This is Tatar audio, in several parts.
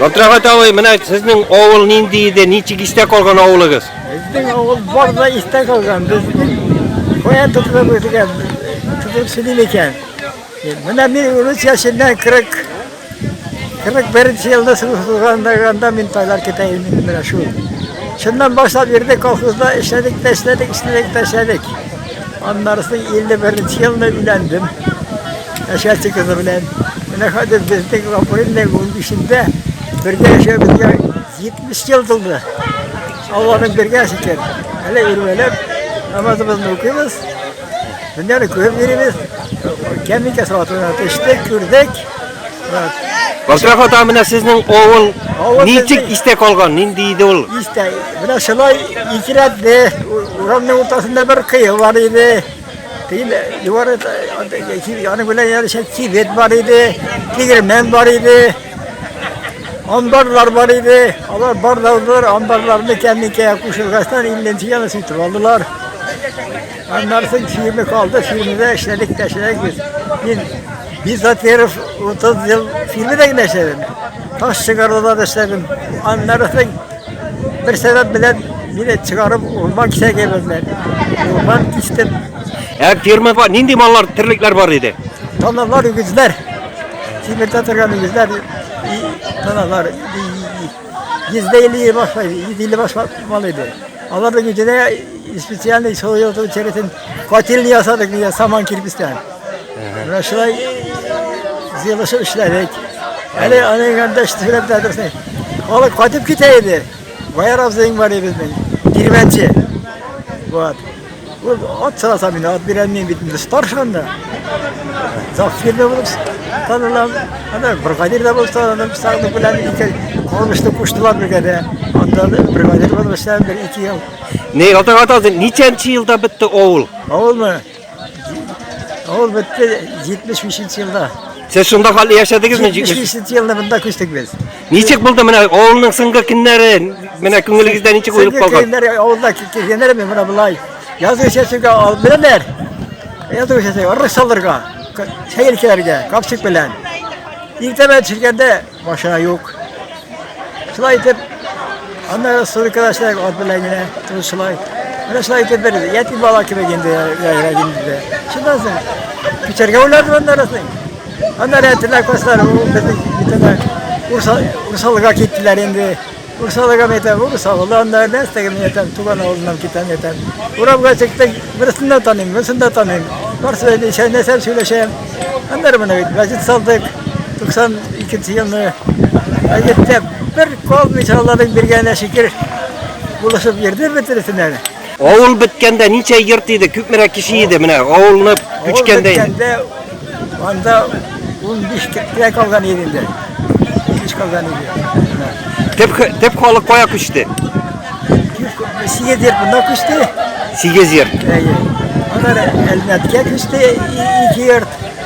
Габдрахмат абый, менә сезнең авыл нинди иде, ничек истә калган авылыгыз? Безнең авыл бар да истә калган. Без кая тотылып үтгән, тотылып сөйлим икән. Менә мин урыс яшеннән 40 41 елда сылгандаганда мин тайлар китә идем менә шул. Шуннан башлап йөрдек колхозда, эшләдек, эшләдек, эшләдек, эшләдек. Аннарысы 51 елда өйләндем. Әшәте кызы белән. Менә хәзер безнең апрельнең 15-ндә бергә яшәүебезгә 70 ел тулды. Алланың бергә шикер. Әле үрмәләп намазыбызны укыйбыз. Менә күреп йөрибез. Кәмикә салатына төштек, күрдек. Башрак ата менә сезнең авыл ничек истә калган? Нинди иде ул? Истә. Менә шулай икерәтте. Урамның уртасында бер кыю бар иде. Тегендә югары аны белән ярыша кибет бар иде, тегермән бар иде, амбарлар бар иде. Алар барлаудылар, амбарларны кәмикә кушылгастан илленче яны сүтеп алдылар. Аннарсын фирма калды, фирмада эшләдек, тәшләдек без. Мин Бизатеров 30 ел фирмада генә эшләдем. Таш чыгаруда да эшләдем. Аннарсын Бер сәбәп белән мине чыгарып урман кисәгә бирделәр. Урман кистем. Ә фермада нинди маллар, терлекләр бар иде? Таналар, үгезләр. Тимирдә торган үгезләр. и- Таналар. Йөздә илле башлай, йөз илле башлап мал иде. Аларның өченә специальный союз черетен котельный ясадык, саман кирпичтән. Менә шулай җыелышып эшләдек. Әле аны гәндә эшләп тә дөресен. Халык кайтып китә иде. Баяр абзыйың бар иде безнең. Кирмәнче. Вот. Ул ат сараса мин, ат бирәм мин бит инде старшан да. Завтра да булып танылам. Ана бригадир да булып танылам. Сагны белән ике калмышты куштылар бергә дә. Анда бригадир булып эшләдем бер ике ел. Не, ата ата ничәнче елда бетте авыл? Авылмы? Ул бетте 75 елда. Сез шунда хәлле яшәдегезме? 75 елда монда күчтек без. Ничек булды менә авылның соңгы көннәре? Менә күңелегездә ничек уелып калган? Көннәр авылда килгәннәр мен менә болай. Язгы чәчүгә алып беләләр. Язгы чәчүгә рысалырга, чәй капчык белән. Иртәмә төшкәндә Машина юк. Шулай итеп, анда сурикада эшләдек, ат белән генә, тыныч шулай. Менә шулай итеп бер ятим бала кебек инде яшәргә инде. Шуннан соң күчәргә уйладым анда рәсең. Анда рәтеләк басар, ул безнең битенә урсалга киттеләр инде. Урсалыгам әйтәм, урсалыдан да нәрсә тегем әйтәм, туган авылыннан китәм әйтәм. Урамга чыктык, берсен дә таныйм, берсен дә таныйм. Барсы да ничә нәрсә сөйләшәм. Аннары менә бит мәчет салдык. 92 елны әйттә бер калмыйча аларның биргәненә шикер булышып йөрде бетерсенә. Авыл беткәндә ничә йорт иде, күпмерәк кеше иде менә авылны күчкәндә? Авыл беткәндә анда 15 кешегә калган иде инде. Кич калган иде. Төп төп халык кая күчте? Сигез йорт монда күчте. Сигез йорт. Әйе. Ана Әлмәткә күчте ике йорт.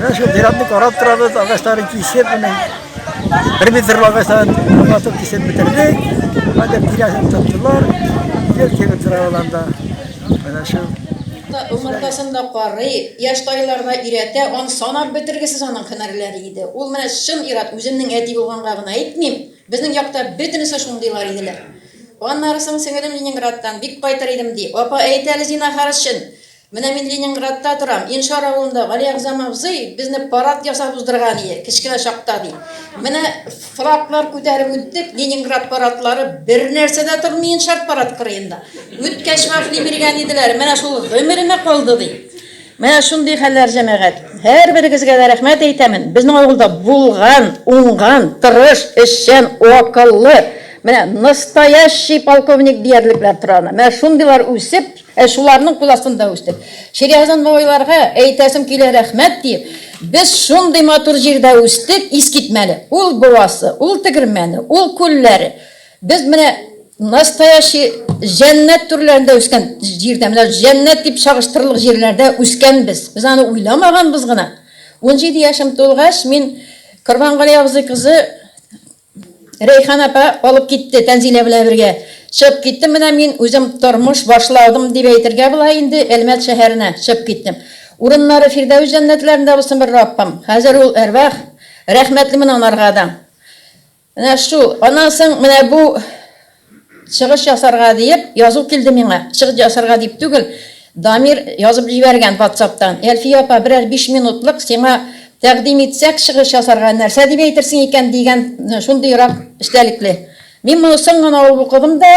Менә шул зиратны карап торабыз, агачларын кисеп, менә бер метр агачларын катып кисеп бетердек. Хәзер тирәсен тоттылар. Ел кебек тора ул анда. Менә шул. Умыртасын да карый, яшь тайларына өйрәтә, аны санап бетергесез аның һөнәрләре иде. Ул менә чын ир-ат, үземнең әти булганга гына әйтмим. Безнең якта бөтенесе шундыйлар иделәр. Аннары соң сеңелем Ленинградтан, бик кайтыр идем, ди. Апа, әйт әле, зинахар өчен, Менә мин Ленинградта торам, Иншар авылында Гали Әгъзам абзый безне парад ясап уздырган ие, кечкенә чакта, ди. Менә флаглар күтәреп үттек, Ленинград парадлары, бернәрсә дә тормый Иншар парад кырыенда. Үткәч вафли биргән иделәр, менә шул гомеремә калды, ди. Менә шундый хәлләр, җәмәгать. Һәрберегезгә дә рәхмәт әйтәмен, безнең авылда булган, уңган, тырыш, эшчән, акыллы, менә настоящий полковник диярлекләр тора анда. Менә шундыйлар үсеп, Ә шуларның кул астында үстек. Ширияздан бабайларга әйтәсем килә рәхмәт диеп, без шундый матур җирдә үстек, искитмәле. Ул буасы, ул тегермәне, ул күлләре. Без менә настоящий җәннәт түрләрендә үскән җирдә, менә җәннәт дип чагыштырырлык җирләрдә үскәнбез. Без аны уйламаганбыз гына. Унҗиде яшем тулгач, мин Корбангали абзый кызы Рәйхан апа алып китте Тәнзилә белән бергә. Чыгып киттем менә мин үзем тормыш башладым дип әйтергә була инде Әлмәт шәһәренә чыгып киттем. Урыннары Фирдәвес җәннәтләрендә булсын бер Раббым. Хәзер ул әрвах, рәхмәтлемен анарга да. Менә шул. Аннан соң менә бу. Чыгыш ясарга диеп, язу килде миңа. Чыгыш ясарга дип түгел, Дамир язып җибәргән ватсаптан. Әлфия апа, берәр биш минутлык сиңа тәкъдим итсәк чыгыш ясарга, нәрсә дип әйтерсең икән, дигән шундыйрак эчтәлекле. Мин моны соң гына алып укыдым да,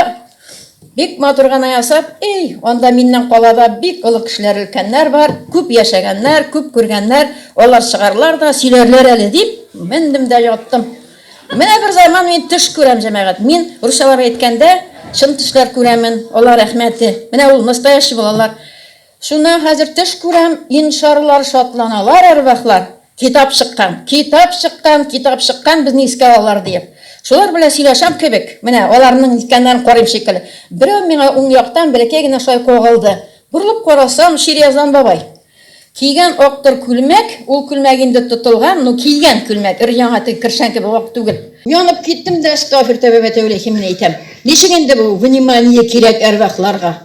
бик матур гына ясап, Эй, анда миннән калада бик олы кешеләр, өлкәннәр бар, күп яшәгәннәр, күп күргәннәр, алар чыгарлар да, сөйләрләр әле, дип, мендем дә яттым. Менә бер заман мин төш күрәм, җәмәгать. Мин, русчалап әйткәндә, чын төшләр күрәмен, алар әхмәте. Менә ул, настоящий булалар. Шуннан хәзер төш күрәм, иншарлар, шатланалар әрвахлар, китап чыккан, китап чыккан, китап чыккан, безне искә алалар диеп. Шулар белән сөйләшәм кебек, менә аларның ниткәннәрен карыйм шикелле. Берәү миңа уң яктан бәләкәй генә шулай кагылды. Борылып карасам, Ширияздан бабай. Кигән актыр күлмәк, ул күлмәк инде тотылган, ну кигән күлмәк, өр-яңа теге кершән кебек ак түгел. Янып киттем дә Әстәгъфиртәбәбәтәүләйһим менә әйтәм. Ничек инде бу внимание кирәк әрвахларга.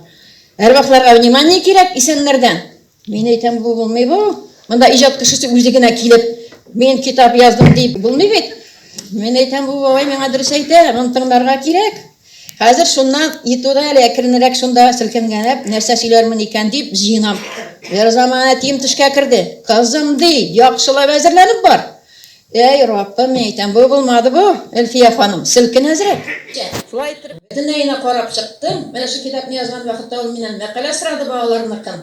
Әрвахларга внимание кирәк исәннәрдән. Мин әйтәм, бу булмый бу. Монда иҗат кешесе үзе генә килеп, мин китап яздым дип булмый бит. Мин әйтәм, бу бабай миңа дөрес әйтә, моны тыңларга кирәк. Хәзер шуннан ни туды әле, әкренрәк шунда селкенгәнләп, нәрсә сөйләрмен икән дип җыенам. Берзаман әтием төшкә керде. Кызым, ди, яхшылап әзерләнеп бар. Әй, Раббым, мин әйтәм, бу булмады бу, Әлфия ханым, селкен әзрәк. Шулай итеп, бөтенләенә карап чыктым. Менә шул китапны язган вакытта ул миннән мәкалә сорады, балаларныкын.